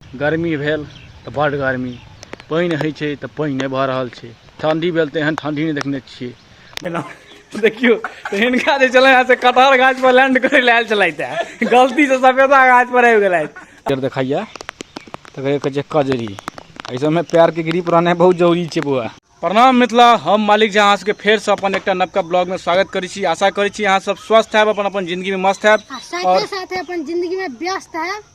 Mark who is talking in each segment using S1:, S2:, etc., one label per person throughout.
S1: गर्मी भेल तऽ बड गर्मी पानि होइ छै तऽ पानि नहि भऽ रहल छै ठण्डी भेल तऽ एहन ठण्डी नहि देखने छियै एना देखियौ तऽ हिनका जे छलै से कटहर गाछ पर लैंड करै लए आयल छलथि हे गलती से सफेदा गाछ पर आबि गेलथि फेर देखाइया तऽ कहै कहै छै कजरी एहि सबमे पैरके ग्रिप रहनाइ बहुत जरूरी छै बौआ प्रणाम मिथिला हम मालिक झा अहाँसभके फेरसँ अपन एकटा नवका ब्लॉगमे स्वागत करै छी आशा करै छी अहाँसभ स्वस्थ हैब अपन अपन जिन्दगीमे मस्त हैब आ साथे साथे अपन
S2: जिंदगी में व्यस्त है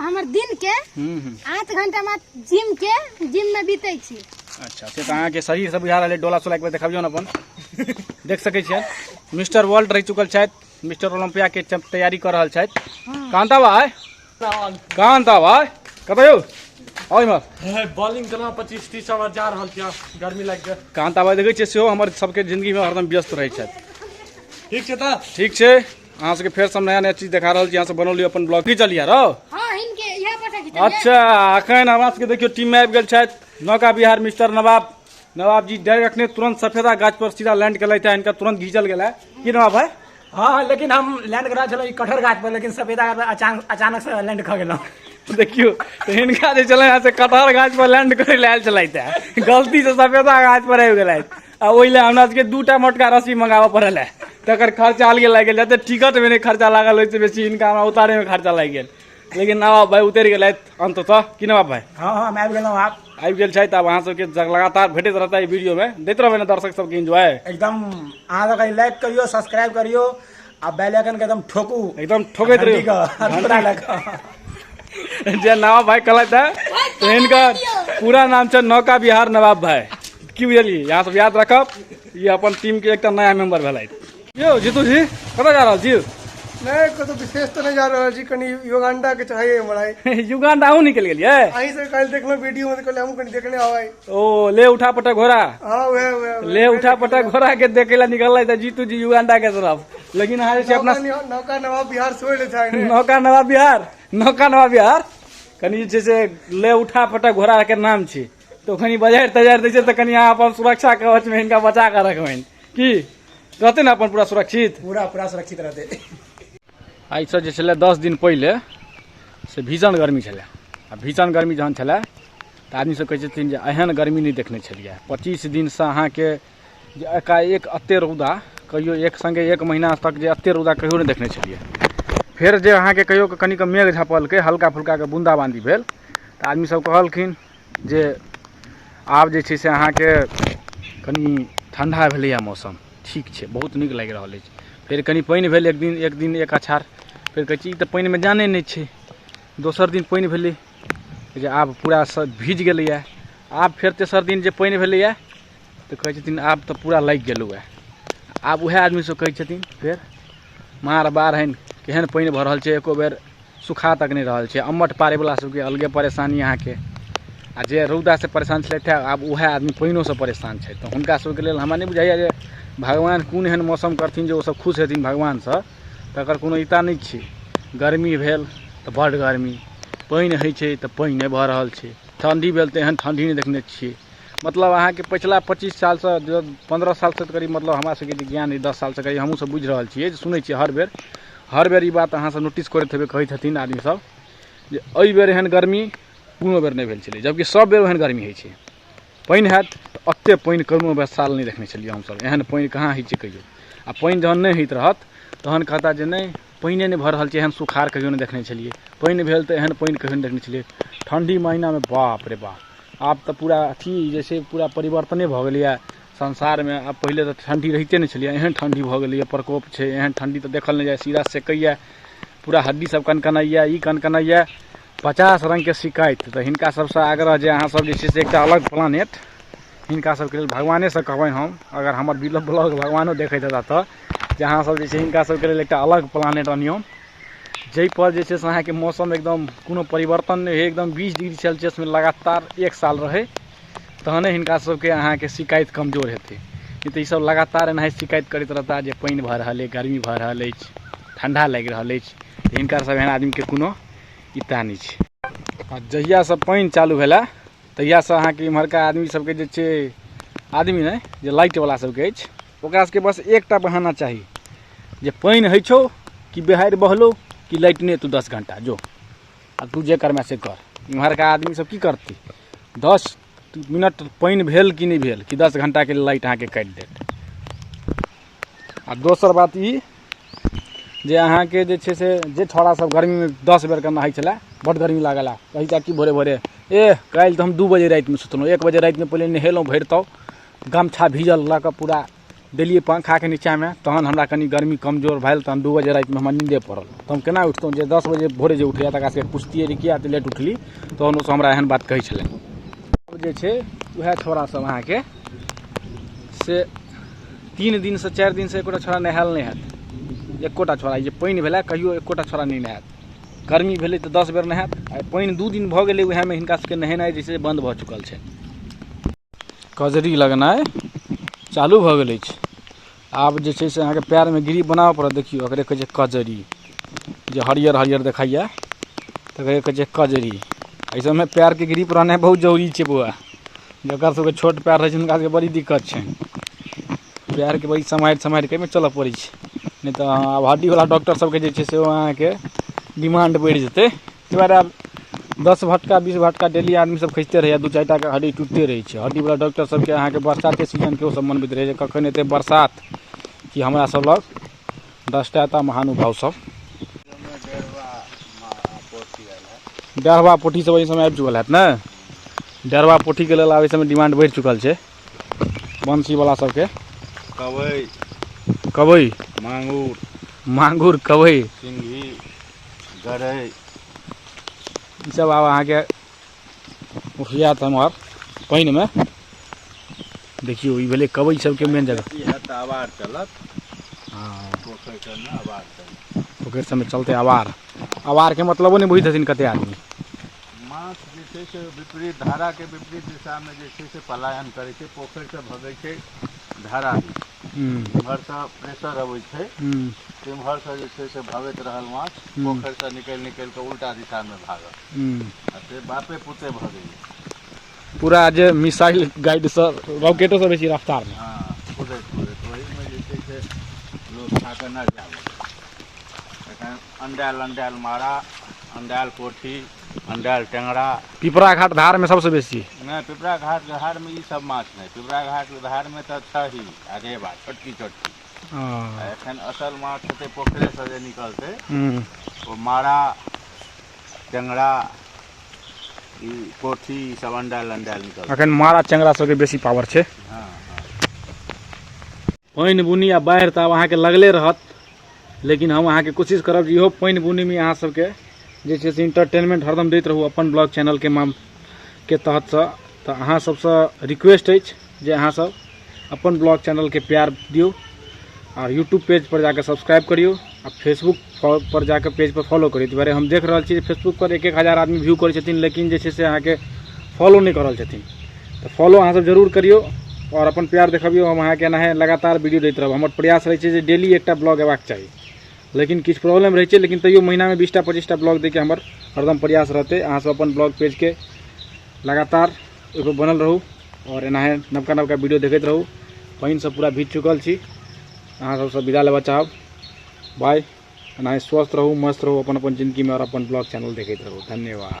S2: हमर दिन के आठ घंटा में जिम के जिम में बीते छी अच्छा से तो अहाँके
S1: शरीर से बुझा रहा डोला सोला एक बार देखबियो ना अपन देख सके छियै मिस्टर वर्ल्ड रह चुकल छथि मिस्टर ओलम्पिया के तैयारी कर रहा छथि कहाँ तब आय कहाँ तब आय कतऽ यौ आउ इम्हर
S3: बॉलिंग केना पच्चीस तीस ओवर जा रहल छियै गर्मी लागि गेल कहाँ तब आय देखै छियै सेहो
S1: हमर सबके जिंदगी में हरदम व्यस्त रहै छथि ठीक छै तऽ
S3: ठीक छै अहाँ
S1: सबके फेर सब नया नया चीज देखा रहल छी अहाँ सब बनौली अपन ब्लॉग की चलिया रौ हाँ इनके यहाँ पर खींचल जाए। अच्छा अखन हमरा सबके देखियो टीम में आबि गेल छथि नौका बिहार मिस्टर नवाब नवाब जी डायरेक्ट अखने तुरंत सफेदा गाछ पर सीधा लैंड केलथि था इनका तुरंत घीचल गेला की नवाब भाई हाँ लेकिन हम
S3: लैंड करा छलहुँ ई कठहर गाछ पर लेकिन सफेदा गाछ पर अचानक अचानक से लैंड खा गेलहुँ देखियो
S1: तो इनका जे छलै यहाँ से कटहर गाछ पर लैंड करे लायल छलथि है गलती से सफेदा गाछ पर आबि गेलथि आ ओहि लए हमरा सबके दू टा मोटका रस्सी मंगाबऽ पड़ल है तकर खर्चा अलगे लागि गेल जते टिकट में नहि खर्चा लागल ओहिसँ बेसी हिनका हमरा उतारे में खर्चा लागि गेल लेकिन ना बाबा भाई उतरि गेलथि अंततः कि ना बाबा भाई हँ हँ हम आबि गेलहुँ
S3: आब आबि गेल छथि आब अहाँ
S1: सबके जग- लगातार भेटैत रहता ई वीडियो में दैत रहबै ने दर्शक सबके एंजॉय एकदम अहाँ सबके
S3: लाइक करियो सब्सक्राइब करियो अब बैल अखन के एकदम ठोकू एकदम ठोकैत घंटी
S1: रहियो के हथौड़ा लऽ कऽ। जे नवाब भाई कहलथि है तो इनकर पूरा नाम छै नौका बिहार नवाब भाई की बुझलियै यहाँ सब याद रखब ये अपन टीम के एकटा नया मेंबर भेलथि यौ जीतू जी कतऽ जा रहल छी नहीं कतौ
S4: विशेष तो नहीं जा रहा जी कनी युगांडा के चाहिए हमारा युगांडा अहूँ निकलि
S1: गेलियै अहीं से कल देखलो
S4: वीडियो में तो कल हम कनी देखने आवाई ओ ले उठा
S1: पटक घोड़ा हाँ वे वे वे।
S4: ले उठा पटक घोड़ा
S1: के देखे ला निकल रहा था जीतू जी युगांडा के तरफ लेकिन अहाँ जे छै अपना नौका निहा- नौका नवा बिहार
S4: छोड़ ले जाए ने नौका नवा बिहार
S1: नौका नवा बिहार कनि जे छै से ले उठा पटक घोड़ा के नाम छै तो कनि बजारि तजारि दै छै तऽ कनि अहाँ अपन सुरक्षा कवच मे हिनका बचा कऽ रखबनि की रहतै ने अपन पूरा सुरक्षित पूरा पूरा सुरक्षित रहते आइसँ जे छलै दस दिन पहिले से भीषण गर्मी छलै आ भीषण गर्मी जहन छलै तऽ आदमीसभ कहै छथिन जे एहन गर्मी नहि देखने छलियै पच्चीस दिनसँ अहाँके जे एकाएक एतेक रौदा कहियो एक सङ्गे एक महीना तक जे एतेक रौदा कहियो नहि देखने छलियै फेर जे अहाँके कहियो कनिक मेघ झपलकै हल्का फुल्काके बून्दाबान्दी भेल तऽ आदमीसभ कहलखिन जे आब जे छै से अहाँके कनि ठण्ढा भेलैए मौसम ठीक छै बहुत नीक लागि रहल अछि फेर कनि पानि भेल एक दिन एक दिन एक अछार फेर कहै छी ई तऽ पानिमे जाने नहि छै दोसर दिन पानि भेलै जे आब पूरा सभ भीज गेलैए आब फेर तेसर दिन जे पानि भेलैए तऽ कहै छथिन आब तऽ पूरा लागि गेलहुँ आब उएह आदमीसभ कहै छथिन फेर मार बाढ़नि केहन पानि भऽ रहल छै एको बेर सुखा तक नहि रहल छै अम्मट पारैवला सबके अलगे परेशानी अहाँके आ जे रौदासँ परेशान छलथि हँ आब उएह आदमी पानिओसँ परेशान छथि तऽ हुनका सबके लेल हमरा नहि बुझाइए जे भगवान कोन एहन मौसम करथिन जे ओसब खुश हेथिन भगवानसँ तकर कोनो इता नहि छै गर्मी भेल तऽ बड्ड गर्मी पानि होइ छै तऽ पानि नहि भऽ रहल छै ठण्डी भेल तऽ एहन ठण्डी नहि देखने छियै मतलब अहाँके पछिला पच्चीस सालसँ पन्द्रह सालसँ करीब मतलब हमरा सबके जे ज्ञान अइ दस सालसँ करीब हमहूँ सब बुझि रहल छियै जे सुनै छियै हर बेर हर बेर ई बात अहाँ सब नोटिस करैत हेबै कहै छथिन आदमी सब जे एहि बेर एहन गर्मी कोनो बेर नहि भेल छलै जबकि सब बेर ओहन गर्मी होइ छै पानि हैत तऽ ओते पानि कोनो बेर साल नहि देखने छलियै हमसब एहन पानि कहाँ होइ छै कहियो आ पानि जहन नहि होइत रहत तहन कहता जे नहि पानिए नहि भऽ रहल छै एहन सुखार कहियो नहि देखने छलियै पानि भेल तऽ एहन पानि कहियो नहि देखने छलियै ठण्ढी महिनामे बाप रे बाप आब तऽ पूरा अथी जे छै पूरा परिवर्तने भऽ गेलैए संसारमे आब पहिले तऽ ठण्ढी रहिते नहि छलैए एहन ठण्ढी भऽ गेलैए प्रकोप छै एहन ठण्ढी तऽ देखल नहि जाइ सीधा सेकैए पूरा हड्डी सब कनकनाइए ई कनकनाइए पचास रङ्गके शिकायत तऽ हिनका सबसँ आग्रह जे अहाँ सब जे छै से एकटा अलग प्लानेट हिनका सबके लेल भगवाने से कहबनि हम अगर हमर ब्लॉग भगवानो देखैत हेता तऽ जे अहाँ सब जे छै हिनका सबके लेल एकटा अलग प्लानेट अनियौ जाहिपर जे छै से अहाँके मौसम एकदम कोनो परिवर्तन नहि होइ एकदम बीस डिग्री सेल्सियसमे लगातार एक साल रहै तहने हिनका सबके अहाँके शिकायत कमजोर हेतै नहि तऽ ईसब लगातार एनाहि शिकायत करैत रहता जे पानि भऽ रहल अछि गर्मी भऽ रहल अछि ठण्डा लागि रहल अछि तऽ हिनका सब एहन आदमीके कोनो इत्ता नहि छै आ जहियासँ पानि चालू भेलए तहियासँ अहाँके इम्हरका आदमी सबके जे छै आदमी नहि जे लाइट बला सबके अछि ओकरा सबके बस एकटा बहाना चाही जे पानि होइ छौ कि बिहाड़ि बहलो कि लाइट नहि एतौ दस घंटा जो आ तू जे करमे से कर इम्हरका आदमी सब की करतै दस मिनट पानि भेल कि नहि भेल कि दस घंटाके लाइट अहाँके काटि देत आ दोसर बात ई जे अहाँके जे छै से जे छौड़ा सब गर्मीमे दस बेरके नहाय छलय बड्ड गर्मी लागल हइ कहय छै कि भोरे भोरे एह काल्हि तऽ हम दू बजे रातिमे सुतलहुँ एक बजे रातिमे पहिले नहेलहुँ भरि तब गमछा भीजल लअ कऽ पूरा देलियै पंखाके नीचामे तहन हमरा कनी गर्मी कमजोर भेल तहन दू बजे रातिमे हमरा नीन्दे पड़ल तऽ हम केना उठतहुँ जे दस बजे भोरे जे उठैये तकरा सबके पुछतियै जे किया एते लेट उठली तहन ओ सब हमरा एहन बात कहय छलै जे छै वएह छौड़ा सब अहाँके से तीन दिनसँ चारि दिनसँ एकोटा छोड़ा नहायल नहि हैत एकोटा छोड़ा जे पानि भेलै कहियो एकोटा छोड़ा नहि नहायत गर्मी भेलै तऽ दस बेर नहायत आ पानि दू दिन भऽ गेलै उएहमे हिनका सबके नहेनाइ जे छै बन्द भऽ चुकल छै कजरी लगनाइ चालू भऽ गेल अछि आब जे छै से अहाँके पएरमे गिरी बनाबय पड़त देखियौ एकरे कहै छै कजरी जे हरियर हरियर देखैए तकरे कहै छै कजरी एहि सभमे पएरके ग्रिप रहनाइ बहुत जरूरी छै बौआ जकरा सभके छोट पएर रहै छै हुनका सभके बड़ी दिक्कत छनि पएरके बड़ी सम्हारि सम्हारि कऽ एहिमे चलय पड़ै छै नहि तऽ अहाँ आब हड्डीवला डॉक्टर सभके जे छै से ओ अहाँके डिमांड बढ़ि जेतै ताहि दुआरे आब दस भटका बीस भटका डेली आदमीसभ खसिते रहैए दू चारि टाके हड्डी टूटते रहै छै हड्डीवला डॉक्टर सभके अहाँके बरसातके सीजनके ओसभ मनबैत रहैए जे कखन एतै बरसात कि हमरासभ लग दसटा एतऽ महानुभाव सब डेढ़वा पोठी सब एहि समय आबि चुकल हैत ने डेढ़वा पोठीके लेल आब एहि समय डिमांड बढ़ि चुकल छै बंसीवला सबके कबई कबई मांगुर मांगुर कबई सिंघी
S5: गरई
S1: ई सब आब अहाँके उठिया तऽ हमर पानिमे देखियौ ई भेलै कबई सबके मेन जगह
S5: पोखरि सबमे चलतै
S1: आवार आवारके मतलबो नहि बुझै छथिन कते आदमी माछ
S5: जे छै से विपरीत धाराके विपरीत दिशामे जे छै से पलायन करै छै पोखरिसँ भगै छै धारा हूँ एम्हरसँ प्रेशर अबै छै हूँ तिम्हरसँ जे छै से भगैत रहल माछ हूँ पोखरिसँ निकलि निकलि कऽ उल्टा दिशामे भागल हूँ आ से बापे पुते भगैए पूरा जे
S1: मिसाइल गाइड सब रॉकेटो सब बेसी रफ्तार मे हँ कुदैत कुदैत
S5: ओहिमे जे छै से लोक खा कऽ नजर आबै छै एखन अण्डायल अण्डायल मारा अण्डायल पोठी अण्डाल टेंगरा पिपरा घाट धारमे
S1: सबसँ बेसी नहि पिपरा घाट
S5: धारमे ई सब माछ नहि पिपरा घाट धारमे तऽ छही आ रेबा छोटकी छोटकी आ एखन असल माछ हेतै पोखरेसँ जे निकलतै ओ मारा टेंगरा ई कोठी ई सब अण्डाल अण्डाल निकलतै एखन मारा टेंगरा सबके
S1: बेसी पावर छै हँ पानि बुनी आ बाढ़ि तऽ आब अहाँके लगले रहत लेकिन हम अहाँके कोशिश करब जे इहो पानि बुनीमे अहाँ सबके जे छै से इंटरटेनमेंट हरदम दैत रहू अपन ब्लॉग चैनलके माम के तहतसँ तऽ अहाँ सबसँ रिक्वेस्ट अछि जे अहाँ सब अपन ब्लॉग चैनलके प्यार दियौ आ यूट्यूब पेज पर जाके सब्सक्राइब करियौ आ फेसबुक फॉ पर जा कऽ पेजपर फॉलो करी एहि दुआरे हम देख रहल छी जे फेसबुकपर एक एक हजार आदमी व्यू करै छथिन लेकिन जे छै से अहाँके फॉलो नहि कऽ रहल छथिन तऽ फॉलो अहाँसभ जरूर करियौ आओर अपन प्यार देखबियौ हम अहाँके एनाहे लगातार वीडियो दैत रहब हमर प्रयास रहै छै जे डेली एकटा ब्लॉग अयबाक चाही लेकिन किछु प्रॉब्लम रहै छै लेकिन तैयो महीनामे बीसटा पच्चीसटा ब्लॉग दैके हमर हरदम प्रयास रहतै अहाँसभ अपन ब्लॉग पेजके लगातार ओहिपर बनल रहू आओर एनाहे नवका नवका वीडियो देखैत रहू पानिसँ पूरा भीज चुकल छी अहाँ सबसँ विदा लेबऽ चाहब बाय एनाहि स्वस्थ रहू मस्त रहू अपन अपन जिन्दगीमे आओर अपन ब्लॉग चैनल देखैत रहू धन्यवाद